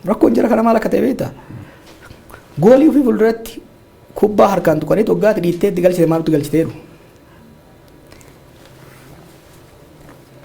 Rakkoon jara kana maal akka ta'e beektaa? Goolii ofii fuulduratti kubbaa harkaan tuqanii toggaatti dhiittee itti galchite maaltu galchiteeru?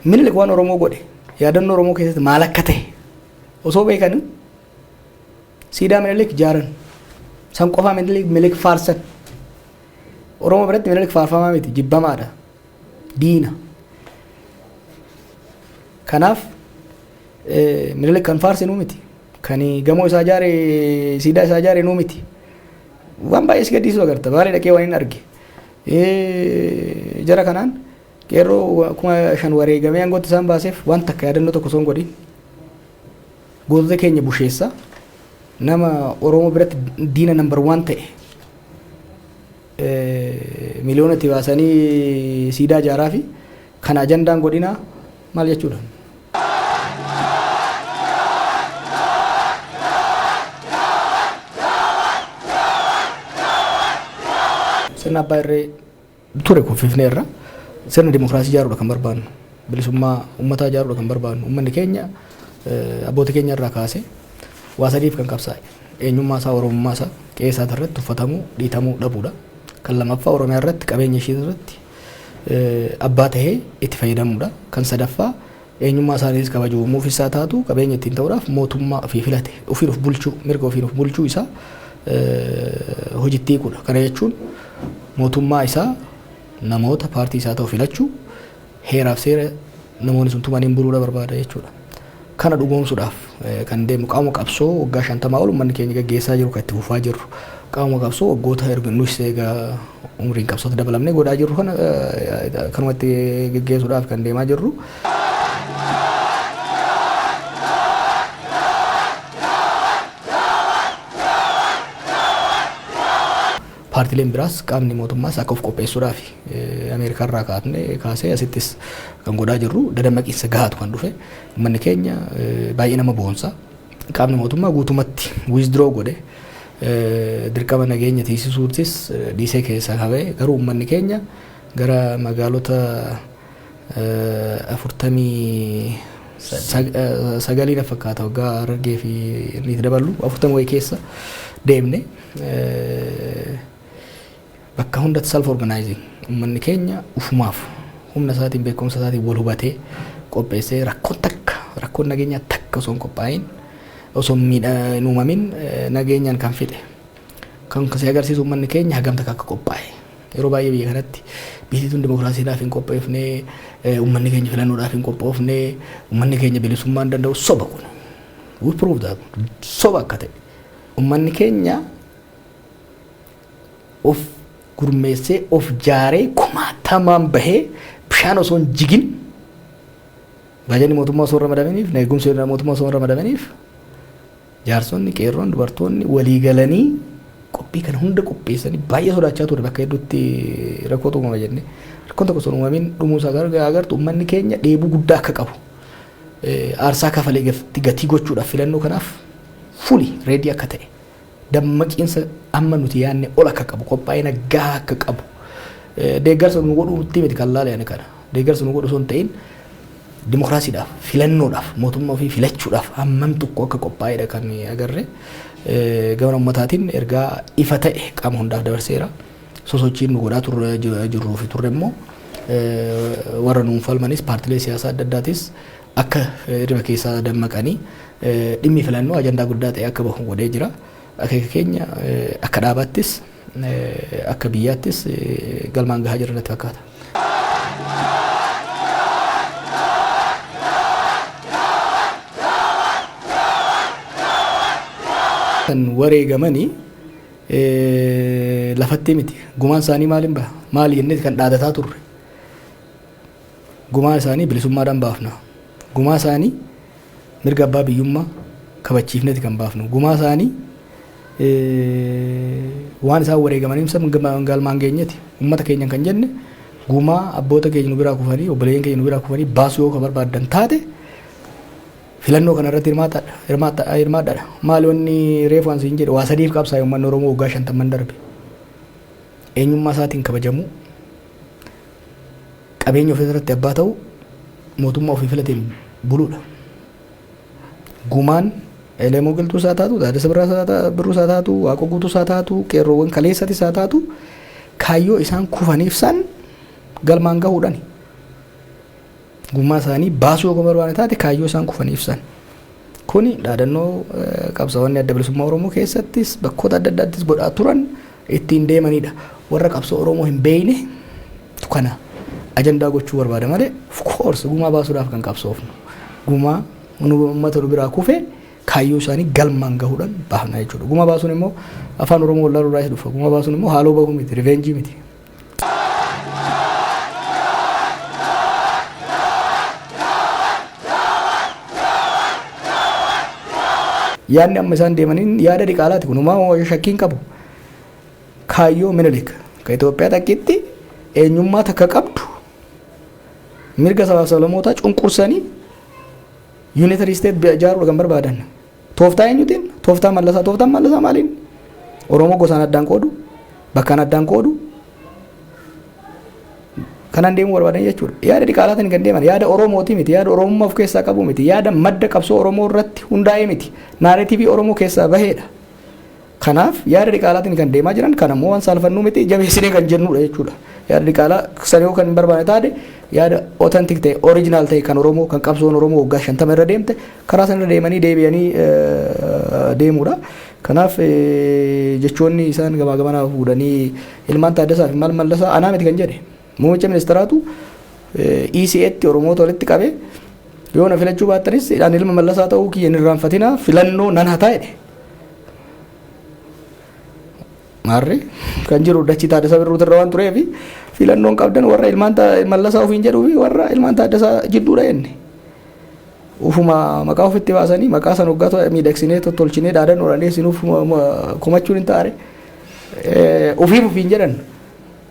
Minilik waan Oromoo godhe yaadannoo Oromoo keessatti maal akka ta'e osoo beekanii siidaa minilik jaaran san qofaa minilik minilik faarsan Oromoo biratti minilik faarfamaa miti jibbamaadha diina. Kanaaf Minilik kan faarse nuu miti. Kan gamoo isaa ijaare siidaa isaa ijaare nuu miti. Waan baay'ee si gaddisiisu agarta. Baalee dhaqee waan hin arge. Jara kanaan qeerroo kuma shan wareegamee aangootti isaan baaseef waan takka yaadannoo tokko osoo hin godhin gootota keenya busheessa nama Oromoo biratti diina nambar waan ta'e miliyoonatti baasanii siidaa ijaaraa fi Kana ajandaan godhinaa maal jechuudha? Sirna abbaa irree ture kuffifnee irra sirna dimokiraasii ijaaruudha kan barbaannu. Bilisummaa uummataa ijaaruudha kan barbaannu. Uummanni keenya abboota keenya irraa kaasee waa sadiif kan qabsaa'e. Eenyummaa isaa, Oromummaa isaa, qe'ee isaa irratti tuffatamuu, dhiitamuu dhabuudha. Kan lammaffaa Oromiyaa irratti qabeenya ishii irratti abbaa tahee itti fayyadamuu dha. Kan sadaffaa eenyummaa isaaniitis kabaju uumuuf isaa taatu qabeenya ittiin ta'uudhaaf mootummaa ofii filate ofiin of bulchuu mirga ofiin of bulchuu isaa hojitti hiikuu dha. Kana jechuun mootummaa isaa namoota paartii isaa ta'u filachuu heeraaf seera namoonni sun tumaniin buluudha barbaada jechuudha. Kana dhugoomsuudhaaf kan deemnu qaama qabsoo waggaa 50 ol ummanni keenya gaggeessaa jiru kan itti fufaa jirru qaama qabsoo waggoota erga nus eega umriin qabsootti dabalamnee godhaa jirru kana kanuma itti gaggeessuudhaaf kan deemaa jirru. Paartileen biraas qaamni mootummaas akka of qopheessuudhaafi. Ameerikaa irraa kaatne kaasee asittis kan godhaa jirru dadammaqiinsa gahaatu kan dhufe. Uummanni keenya baay'ee nama boonsa. Qaamni mootummaa guutumatti withdraw godhe dirqama nageenya tiisisuutis dhiisee keessaa kabe. Garuu uummanni keenya gara magaalota afurtamii sagalii na fakkaata waggaa Harargee fi inni itti daballu afurtama wayii keessa deemne. bakka hundatti self organizing ummanni keenya ufumaaf humna isaatiin beekumsa isaatiin wal hubatee qopheessee rakkoon takka rakkoon nageenyaa takka osoo hin qophaa'in osoo miidha hin uumamin nageenyaan kan fixe kan si agarsiisu ummanni keenya hagam takka akka qophaa'e yeroo baay'ee biyya kanatti biyyi tun dimokiraasiidhaaf hin qopheefne ummanni keenya filannoodhaaf hin qophoofne ummanni keenya bilisummaan danda'u soba kun we prove that soba akka ta'e Ummanni keenya of gurmeessee, of jaaree, kumaatamaan bahee bishaan osoo hin jigin baajanni mootummaa osoo hin ramadaminiif, eegumsi mootummaa osoo hin ramadaminiif jaarsonni, qeerroon, dubartoonni walii galanii qophii kana hunda qopheessanii baay'ee sodaachaa ture bakka hedduutti rakkoo uumama jennee. Rakkoon tokko sun uumamiin dhumuu isaa garuu agartu ummanni keenya dheebuu guddaa akka qabu aarsaa kafalee gatii gochuudhaaf filannoo kanaaf fully ready akka ta'e, dammaqiinsa amma nuti yaadne ol akka qabu, qophaa'ina gahaa akka qabu, deeggarsa nuu godhuu irratti miti kan laale ani kana. Deeggarsa nuu godhu osoo hin ta'in dimokiraasiidhaaf, filannoodhaaf, mootummaa ofii filachuudhaaf hammam tokko akka qophaa'edha kan agarre. Gama ummataatiin ergaa ifa ta'e qaama hundaaf dabarseera. Sosochiin nu godhaa turre jirruu fi turre immoo warra nuun falmanis paartilee siyaasaa adda addaatis akka hirriba keessaa dammaqanii dhimmi filannoo ajandaa guddaa ta'ee akka bahu godhee jira. Akeeka keenya akka dhaabaattis akka biyyaattis galmaan gahaa jirra natti fakkaata. kan wareegamanii lafatti miti. Gumaan isaanii maaliin baha? Maali jennee kan dhaadataa turre. Gumaa isaanii bilisummaadhaan baafna. Gumaa isaanii mirga abbaa biyyummaa kabachiifneeti kan baafnu. Gumaa isaanii waan isaan wareegamaniif san galmaan geenyeti. Uummata keenyan kan jenne gumaa abboota keenya nu biraa kufanii obboleeyyan keenya nu biraa kufanii baasuu yoo ka barbaaddan taate filannoo kana irratti hirmaadhaadha. Maali wanni reefu an siin jedhe waa sadiif qabsaa'e uummanni Oromoo waggaa shantamman darbe. Eenyummaa isaatiin kabajamuu, Qabeenya ofii irratti abbaa ta'uu, mootummaa ofii filateen buluudha. Gumaan Elemoo Qilxuus haa taatu, Taaddasa Birruus haa taatu, Waaqoo Guutuus haa taatu, qeerroowwan kaleessatis haa taatu kaayyoo isaan kufaniif san galmaan gahuudhani. Gumaa isaanii baasuu yoo barbaadne taate kaayyoo isaan kufaniif san. Kuni dhaadannoo qabsaa'onni adda bilisummaa Oromoo keessattis bakkoota adda addaattis godhaa turan ittiin deemanidha. Warra qabsoo Oromoo hin beeyne tu kana ajandaa gochuu barbaada malee of course gumaa baasuudhaaf kan qabsoofnu. Gumaa nu uummata nu biraa kufe kaayyoo isaanii galmaan gahuudhaan baafna jechuudha. Gumaa baasuun immoo afaan Oromoo wallaaluu irraa isa dhufa. Gumaa baasuun immoo haaloo bahuu miti, riveenjii miti. Yaadni amma isaan deemaniin yaada diqaalaati kun homaa homaa shakkiin qabu. Kaayyoo Minilik ka Itoophiyaa takkitti eenyummaa takka qabdu mirga sabaaf sablamootaa cunqursanii yuunitari isteet ijaaruu kan barbaadan. Tooftaa eenyutiin? Tooftaa mallasaa. Tooftaan mallasaa maaliin? Oromoo gosaan addaan qoodu, bakkaan addaan qoodu. Kanaan deemuu barbaadan jechuudha. Yaada diqaalaatiin kan deeman yaada Oromooti miti, yaada Oromummaa of keessaa qabu miti, yaada madda qabsoo Oromoo irratti hundaa'ee miti. Naareetiivii Oromoo keessaa baheedha. Kanaaf yaada diqaalaatiin kan deemaa jiran kana immoo waan saalfannuu miti jabeessinee kan jennuudha jechuudha. Yaada diqaalaa sana yoo kan hin barbaanne taate yaada authentic ta'e original ta'e kan Oromoo kan qabsoon Oromoo waggaa shantama irra deemte karaa sana irra deemanii deebi'anii deemuudha. Kanaaf jechoonni isaan gamaa gamanaa fuudhanii ilmaan Taaddasaa fi maal mallasaa anaa miti kan jedhe. Muummicha ministaraatu ECAtti Oromoota walitti qabee yoo na filachuu baattanis ani ilma mallasaa ta'uu kiyya hin irraanfatinaa filannoo nan hataa jedhe. Maarree kan jiru dachi taaddasaa birruutu irra waan tureef filannoon qabdan warra ilmaan mallasaa ofiin jedhuu fi warra ilmaan taaddasaa jidduudha jenne. Ufuma maqaa ofitti baasanii maqaa san hoggaa miidhagsinee tolchinee dhaadannoodhaan dhiyeessinuuf komachuun hin taare. Ofiif ofiin jedhan.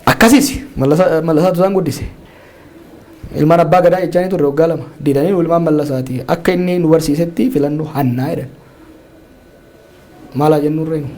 Akkasiis Mallasaatu isaan guddise. Ilmaan abbaa gadaa jechaanii turre waggaa lama. Didanii ilmaan Mallasaati. Akka inni nu barsiisetti filannu hannaa jedhan. Maalaa jennu irree nu.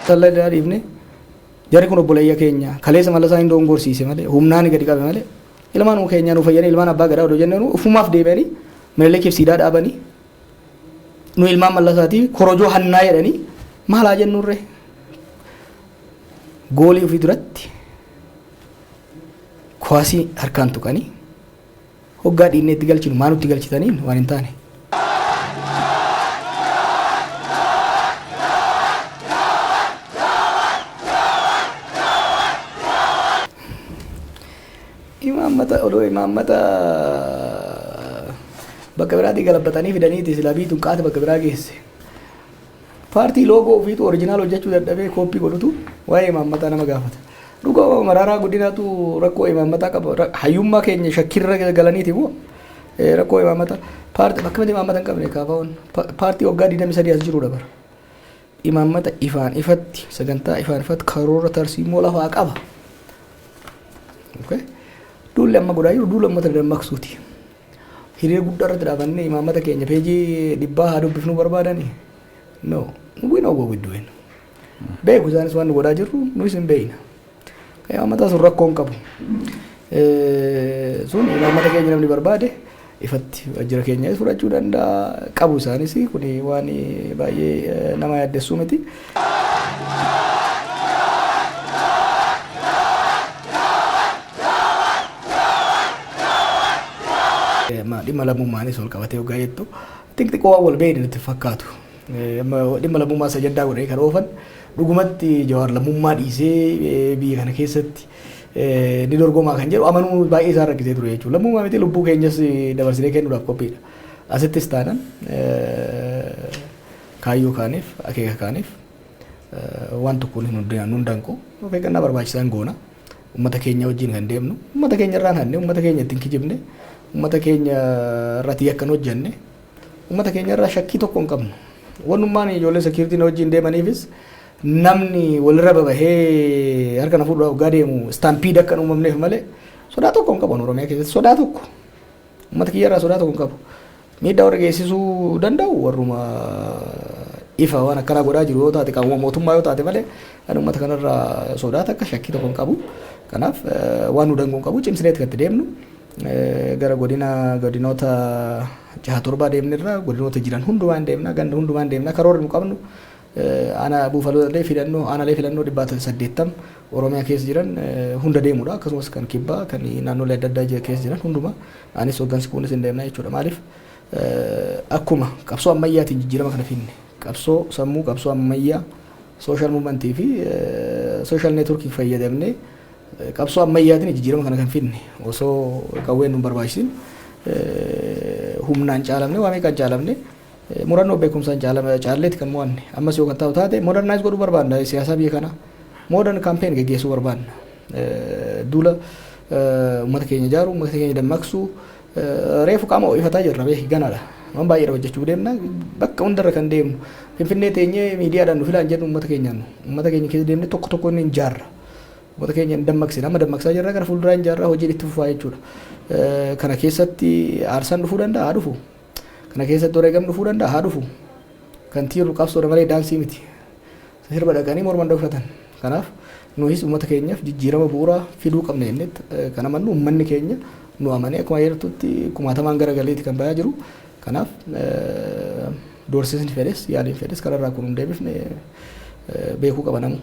Talla irraa dhiifne jarri kun obboleeyya keenya kaleessa Mallasaa hin doongorsiise malee humnaan gadi qabe malee ilmaan keenya nu fayyanii ilmaan abbaa gadaa odoo jennee ofumaaf deebi'anii Minilikiif siidaa dhaabanii nu ilmaan mallasaatii korojoo hannaa jedhanii maal haa jennuurree? Goolii ofii duratti kuwaasii harkaan tuqanii hoggaa dhiinnee itti galchinu maa nutti galchitaniin waan hin taane. Imaammata odoo imaammata bakka biraatii galabbatanii fidaniiti silaa biyyi tun qaata bakka biraa geesse. Paartii loogoo ofiitu orijinaal hojjechuu dadhabee kooppii godhutu waa'ee imaammataa nama gaafata. Dhuga maraaraa guddinaatu rakkoo imaammataa qaba. Ra- Hayyummaa keenya shakkirra galaniiti moo eh, rakkoo imaammataa. Paartii bakka miti imaammata hin qabne kaafaa'oon. Pa- Paartii waggaa 23 as jirudha bara. Imaammata ifaan ifatti, sagantaa ifaan ifatti, karoora tarsiimoo lafaa qaba. Okay. Duulli amma godhaa jiru duula uummata dammaqsuuti. Hiree guddaa irratti dhaabannee imaammata keenya peejii dhibbaa haa dubbifnuu barbaadani. No, we know what we're doing. Beeku isaanis waan nu godhaa jirru nuus hin beekna. Imaammata sun rakkoo hin qabu. Sun imaammata keenya namni barbaade ifatti waajjira keenya fudhachuu danda'a qabu isaanis kun waan baay'ee nama yaaddessuu miti. Dhimma lammummaanis wal qabatee hoggaa jettu xixiqqoo waan wal beekne nutti fakkaatu. Dhimma lammummaa isa ajandaa godhanii kan oofan dhugumatti Jawaar lammummaa dhiisee biyya kana keessatti ni dorgomaa kan jedhu amanuu baay'ee isaan rakkisee ture jechuudha. Lammummaa miti lubbuu keenyas dabarsinee kennuudhaaf qophiidha. Asittis taanan kaayyoo kaaniif akeeka kaaniif waan tokkoon hin hundaan hundaan koo of eeggannaa barbaachisaan goona. Uummata keenya wajjin kan deemnu uummata keenya irraan hanne uummata keenya ittiin kijibne uummata keenya irratti yakkan hojjenne Ummata keenya irraa shakkii tokko hin qabnu. Wannummaan ijoollee security na wajjin deemaniifis namni walirra babahee harka na fuudhuudhaaf hoggaa deemu stampede akka hin uumamneef malee sodaa tokko hin qaban Oromiyaa keessatti sodaa tokko. Ummata kiyya irraa sodaa tokko hin qabu. Miidhaa warra geessisuu danda'u warruma ifa waan akkanaa godhaa jiru yoo taate qaamuma mootummaa yoo taate malee kan ummata kanarraa sodaa takka shakkii tokko hin qabu. Kanaaf waan nu dangoo hin qabu cimsineeti kan itti deemnu. Gara godina godinoota jaha torbaa deemnirra godinoota jiran hundumaa hin deemna ganda hundumaa hin deemna karoorri nu qabnu aanaa buufaloolee filannoo aanaalee filannoo dhibbaatan saddeettam oromiyaa keessa jiran hunda deemudha akkasumas kan kibbaa kan naannolee adda addaa keessa jiran hunduma anis hoggansi kunis hin deemna jechuudha maaliif akkuma qabsoo ammayyaatiin jijjiirama kana finne qabsoo sammuu qabsoo ammayyaa sooshaal muumantii fi sooshaal neetworkii fayyadamnee Qabsoo ammayyaatiin jijjiirama kana kan fidne osoo qawween nun barbaachisin humnaan caalamne waa meeqaan caalamne murannoo beekumsaan caalleeti kan mo'anne ammas yoo kan taa'u taate modernize godhuu barbaanna siyaasaa biyya kana modern campaign geggeessuu barbaanna duula uummata keenya ijaaru uummata keenya dammaqsu reefu qaama ho'ifataa jirra beeki ganaadha waan baay'eedha hojjechuu deemna bakka hundarra kan deemnu finfinnee teenyee miidiyaadhaan nu filaan jennu uummata keenyaan uummata keenya keessa deemne tokko tokko inni hin jaarra Uummata keenya hin dammaqsine. Amma dammaqsaa jirra gara fuulduraa hin jaarraa hojiin itti fufaa jechuudha. Kana keessatti aarsaan dhufuu danda'a haa dhufu. Kana keessatti wareegam dhufuu danda'a haa dhufu. Kan tiirru qabsoodha malee daansii miti. Sirba dhaqanii morma hin dhokfatan. Kanaaf nuhis uummata keenyaaf jijjiirama bu'uuraa fiduu qabna jennetti kan amannu uummanni keenya nu amanee akkuma jirtutti kumaatamaan gara galeeti kan bayaa jiru. Kanaaf doorsisni fedhes yaaliin fedhes kanarraa akka nu hin deebifne beekuu qaba namuu.